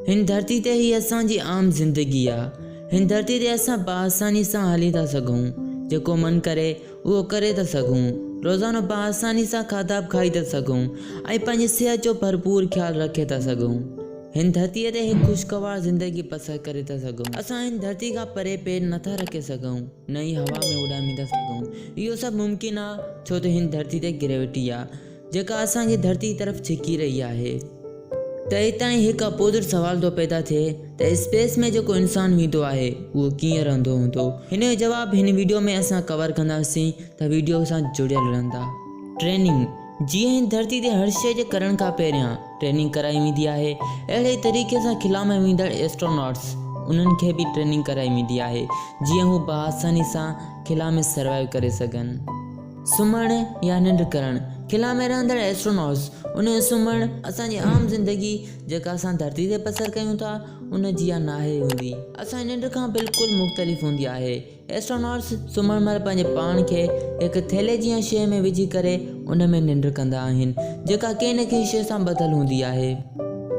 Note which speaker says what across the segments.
Speaker 1: هن ڌرتي تي هي اسان جي عام زندگي آ. هن ڌرتي تي اسان بآساني سان هلي ٿا سگهون. جيڪو من ڪري اهو ڪري ٿا سگهون. روزانو بآساني سان کاڌا به کائي ٿا سگهون ۽ پنهنجي صحت جو ڀرپور خيال رکي ٿا سگهون. هن ڌرتي تي هڪ خوشگوار زندگي بسر ڪري ٿا سگهون. اسان هن ڌرتي کان پري پير نه ٿا رکي سگهون نه ئي هوا ۾ اڏامي ٿا سگهون. اهو سڀ ممڪن آ ڇو ته هن ڌرتي تي گريوٽي آ. جيڪا اسان کي ڌرتي طرف ڇڪي رهي آهي ته اتان ئي هڪ اپوزٽ سوال ٿو پيدا ٿئي ته اسپيس ۾ جيڪو انسان ويندو آهي اهو ڪيئن رهندو هوندو هن جو جواب هن ويڊيو ۾ اسان ڪور ڪنداسين ته ويڊيو سان جڙيل رهندا ٽريننگ جيئن هن ڌرتي تي هر شيء جي ڪرڻ کان پهريان ٽريننگ ڪرائي ويندي آهي اهڙي ئي طريقي سان خلا ۾ ويندڙ ايسٽروناٽس انهن کي به ٽريننگ ڪرائي ويندي آهي جيئن هو بآساني سان خلا ۾ سروائيو ڪري سگهن. سمهڻ يا ننڊ ڪرڻ، خلا ۾ رهندڙ Astronauts، ان سمهڻ اسان جي عام زندگي جيڪا اسان ڌرتي تي بسر ڪيون ٿا ان جيان ناهي هوندي، اسان جي ننڊ کان بلڪل مختلف هوندي آهي. Astronauts سمهڻ مهل پنهنجي پاڻ کي هڪ ٿيلهي جيان شيء ۾ وجهي ڪري ان ۾ ننڊ ڪندا آهن جيڪا ڪنهن نه ڪنهن شيء سان ٻڌل هوندي آهي.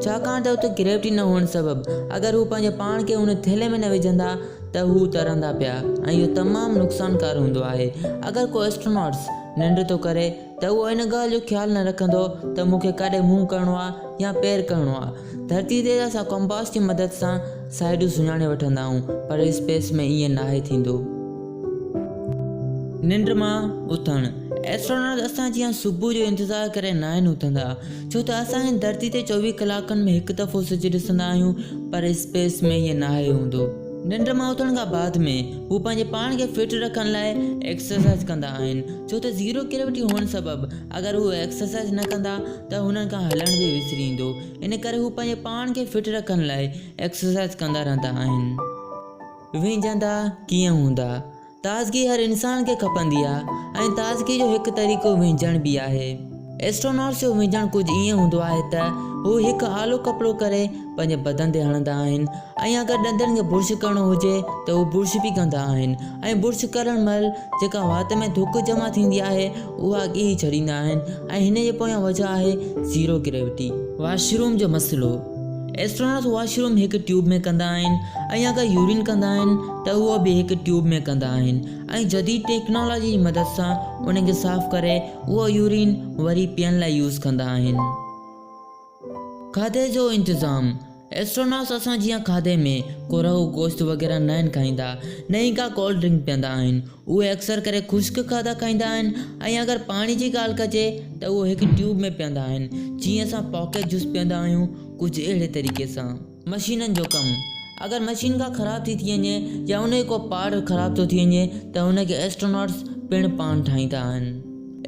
Speaker 1: ڇاڪاڻ ته اتي گريوٽي نه هئڻ سبب اگر هو پنهنجي پاڻ کي ان ٿيلهي ۾ نه وجهندا ته هو ترندا پيا ۽ اهو تمام نقصانڪار هوندو آهي. اگر ڪو اسٽروناٽس ننڊ ٿو ڪري ته اهو ان ڳالهه جو خيال نه رکندو ته مون کي ڪاڏي منهن ڪرڻو آهي يا پير ڪرڻو آهي. ڌرتي تي ته اسان ڪمپاس جي مدد سان سائيڊون سڃاڻي وٺندا آهيون پر اسپيس ۾ ائين ناهي ٿيندو. ننڊ مان اٿڻ، اسٽروناٽس اسان جيان صبح جو انتظار ڪري ناهن اٿندا. ڇو ته اسان هن ڌرتي تي چوويهه ڪلاڪن ۾ هڪ دفعو سج ڏسندا آهيون پر اسپيس ۾ ائين ناهي هوندو. ننڊ مان اٿڻ کان بعد ۾ هو پنهنجي پاڻ کي فٽ رکڻ لاء ايڪسرسائيز ڪندا آهن ڇو ته زيرو گريوٽي هئڻ سبب اگر هو ايڪسرسائيز نه ڪندا ته هنن کان هلڻ به وسري ايندو ان ڪري هو پنهنجي پاڻ کي فٽ رکڻ لاء ايڪسرسائيز ڪندا رهندا آهن. وينجهندا ڪيئن هوندا؟ تازگي هر انسان کي کپندي آهي ۽ تازگي جو هڪ طريقو وهنجڻ به آهي. ايسٽروناٽس جو وهنجڻ ڪجهه ائين هوندو آهي ته هو هڪ آلو ڪپڙو ڪري پنهنجي بدن تي هڻندا آهن ۽ اگر ڏندن کي برش ڪرڻو هجي ته هو برش به ڪندا آهن ۽ برش ڪرڻ مهل جيڪا وات ۾ ٿڪ جمع ٿيندي آهي اها اڳي ئي ڇڏيندا آهن ۽ هن جي پويان وجهه آهي زيرو گريوٽي. واش روم جو مسئلو، ايسٽروناٽس واش روم هڪ ٽيوب ۾ ڪندا آهن ۽ اگر يورين ڪندا آهن ته اهو به هڪ ٽيوب ۾ ڪندا آهن ۽ جديد ٽيڪنالاجي جي مدد سان ان کي صاف ڪري اهو يورين وري پيئڻ لاء يوز ڪندا آهن. کاڌي جو انتظام، ايسٽروناٽس اسان جيان کاڌي ۾ ڪو رهو گوشت وغيره ناهن کائيندا، نه ئي ڪا ڪولڊ ڊرنڪ پيئندا آهن، اهي اڪثر ڪري خشڪ کاڌا کائيندا آهن ۽ اگر پاڻي جي ڳالهه ڪجي ته اهو هڪ ٽيوب ۾ پيئندا آهن، جيئن اسان پاڪيٽ جوس پيئندا آهيون ڪجهه اهڙي طريقي سان. مشينن جو ڪم، اگر مشين ڪا خراب ٿي ٿي وڃي يا ان جو ڪو پارٽ خراب ٿو ٿي وڃي ته ان کي ايسٽروناٽس پڻ پاڻ ٺاهيندا آهن.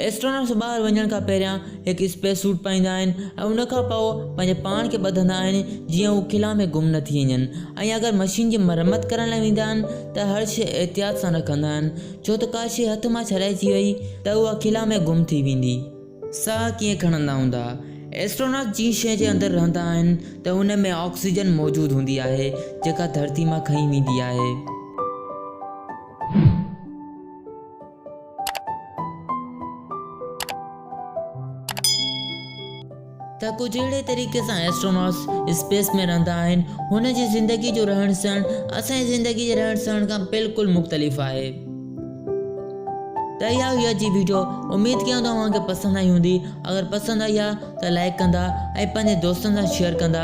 Speaker 1: ايسٽروناٽس ٻاهر وڃڻ کان پهريان هڪ اسپيس سوٽ پائيندا آهن ۽ ان کان پوء پنهنجي پاڻ کي ٻڌندا آهن جيئن هو خلا ۾ گم نه ٿي وڃن ۽ اگر مشين جي مرمت ڪرڻ لاء ويندا آهن ته هر شيء احتياط سان رکندا آهن ڇو ته ڪا شيء هٿ مان ڇڏائجي وئي ته اها خلا ۾ گم ٿي ويندي. ساهه ڪيئن کڻندا هوندا؟ ائسٽروناٽ جنهن شيء جي اندر رهندا آهن ته ان ۾ آڪسيجن موجود هوندي آهي جيڪا ڌرتي مان کنئي ويندي آهي. ته ڪجهه اهڙي طريقي سان ائسٽروناٽس اسپيس ۾ رهندا آهن. هن جي زندگي جو رهڻ سهڻ اسان جي زندگي جي رهڻ سهڻ کان بلڪل مختلف آهي. ته اها هئي اڄ جي ويڊيو اميد ڪيان ٿو اوهان کي پسند آئي هوندي اگر پسند آئي آ ته لائڪ ڪندا ۽ پنهنجي دوستن سان شيئر ڪندا